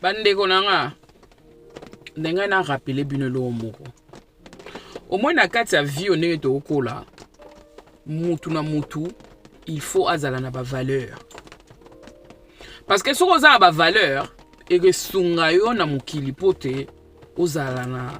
bandeko na nga ndenge na rapele bino eloko moko omoi na kati ya vie ndenge tokokola mutu na mutu il faut azala na bavaleur parce que soki oza na bavaleur ekosunga yo na mokili mpo te ozala na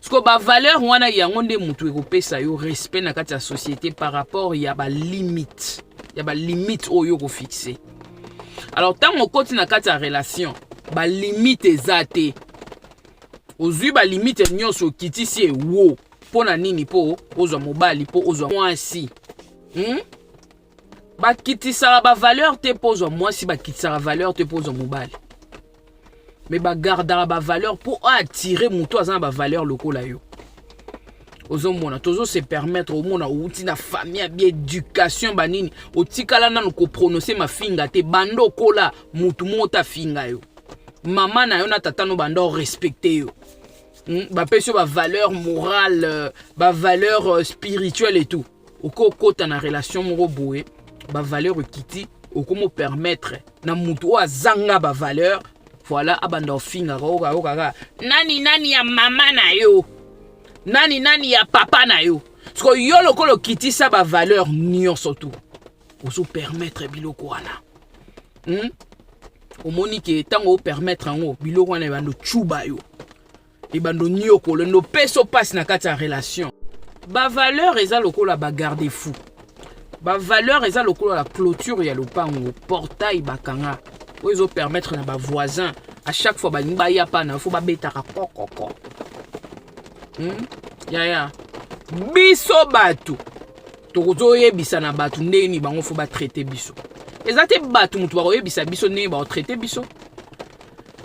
siko bavaleur wana yango nde moto ekopesa yo respect na kati ya société par rapport ya balimite ya balimite oyo okofixe alors ntango okoti na kati ya relation balimite eza te ozwi balimite nyonso okitisi ewo mpo na nini mpo ozwa mobali mpo ozwa mwasi hmm? bakitisaka bavaleur te mpo ozwa mwasi bakitisaka valeur te mpo ozwa mobali me bagardaka bavaleur mpo aatire moto aza na bavaleur lokola yo ozomona tozo se permettre omona outi na famille ya bieducation banini otikala nanu koprononce mafinga te banda okola motu moko te afinga yo mama na yo na tata no banda orespecte yo hmm? bapesi yo bavaleur morale euh, bavaleur euh, spirituelle et tout okokota na relation moko boye bavaleur ekiti okomo permettre na motu oyo azanga bavaleur voilà abanda ofingaka okayokaka nani nani ya mama na yo nani nani ya papa na yo siko yo lokola okitisa bavaleur nyonso tu ozo permettre biloko wana hmm? omoni ke ntango opermettre yango biloko wana ebanda ocuba yo ebando nyokolo ndo peso pasi na kati ya relation bavaleur eza lokola bagarde fou bavaleur eza lokola la clôture ya lopango portail bakanga oyo ezopermettre na bavoisin à chaque fois balingi baya pana fo babetaka kokoko hmm? yaya biso bato tokozoyebisa na bato ndenge nini bango fo batraite biso eza te bato moto bakoyebisa biso ndenge bakotraite biso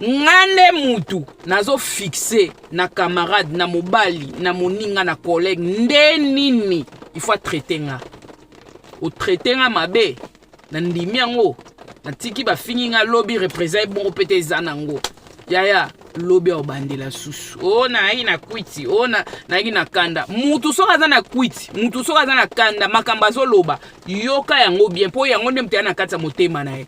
nga nde mutu nazo fixe na camarade na mobali na moninga na collègue nde nini il faut atraite nga otraite nga mabe na ndimi yango natiki bafingi nga lobi represent ebongo mpe te eza nango yaya lobi aobandela susu o oh, nayaki na kwiti o oh, nayaki na kanda mutu soki aza na kwiti mutu soki aza na kanda makambo azoloba yoka yango bien mpo yango nde moto ya na kati ya motema na ye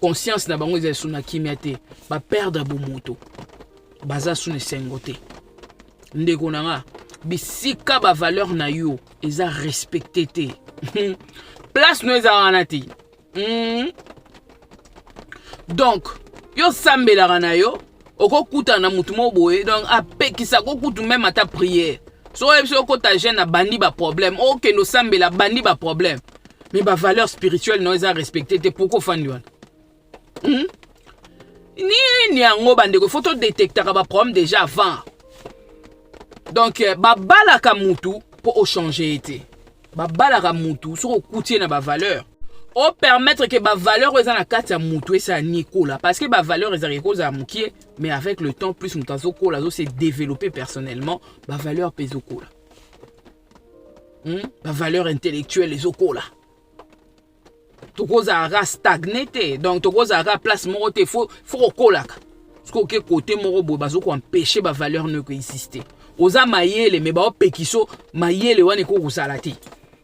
conscience na bango eza lisusu na kimia te baperdre bomoto baza su na esengo te ndeko na nga bisika bavaleur na yo eza respecte te place no eza wana te mm. donc yo osambelaka na yo okokutana na motu moko boye donc apekisa kokutu meme ata priere so oyebi soki okota jeune abandi baproblème okende osambela abandi baproblème mais bavaleur spirituelle na yo eza respecte te pourkoi ofandi wana hmm? nini yango bandeko fo todetektaka baproblème déjà avant donc euh, babalaka mutu mpo ochange ye te babalaka mutu soki okuti ye na bavaleur opermettre ke bavaleur oyo eza na kati ya mutu esala nini ekola parce que bavaleur ezalaka ekozala mokie mais avec le temps plus moto azokola azo se développer personnellement bavaleur mpe ezokola hmm? bavaleur intellectuelle ezokola tokozala kaka stagne te donc tokozala kaka place moko te fo kokolaka soki oke kote moko boye bazokoempeshe bavaleur no ekoexiste oza mayele me baopekiso mayele wana ekoki kozala te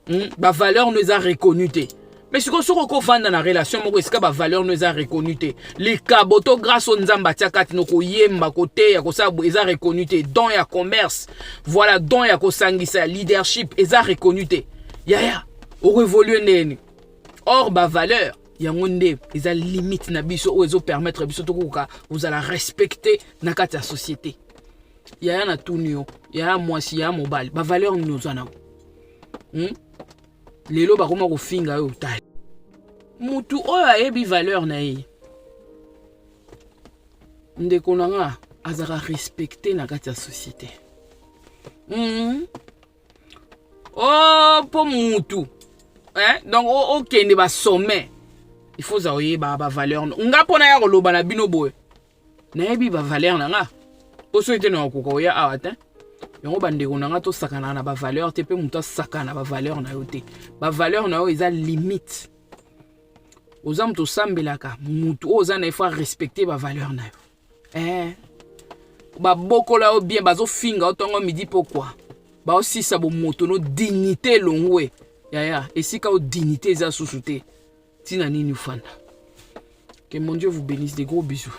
hmm? bavaleur no eza reconnu te me sikoyo soki okofanda na relation moko esika bavaleur no eza reconnu te likabo to grâce oyo nzambe atia kati no koyemba koteya kosala eza reconnu te don ya commerce voilà don ya kosangisa leadership eza reconnu te yaya yeah, yeah. okoevolue ndeni or bavaleur yango nde eza limite na biso oyo ezopermettre biso tokokoka kozala respecte na kati ya société yaya na tuni yo yaya mwasi yaya mobali bavaleur nini oza nango hmm? lelo bakoma kofinga yo ta motu oyo ayebi valeur na ye ndeko na nga azalaka respecte na kati ya société mm -hmm. o oh, mpo mutu eh? donc okende basommet il faut oza oyeba bavaleur nga mpo naya koloba na bino boye nayebi bavaleur na nga mpo soki te na okoka oya awa te yango bandeko na nga tosakanaka na bavaleur te mpe moto asakana na bavaleur na yo te bavaleur na yo eza limite oza moto osambelaka motu oyo oza na ye fo arespecte bavaleur na yo eh, babokola yo bien bazofinga yo ntongo midi pokwa baosisa bomoto no dignité elongwe yaya esika o dignité eza susu te ntina nini ofanda que mon dieu vous bénisse de gros bisous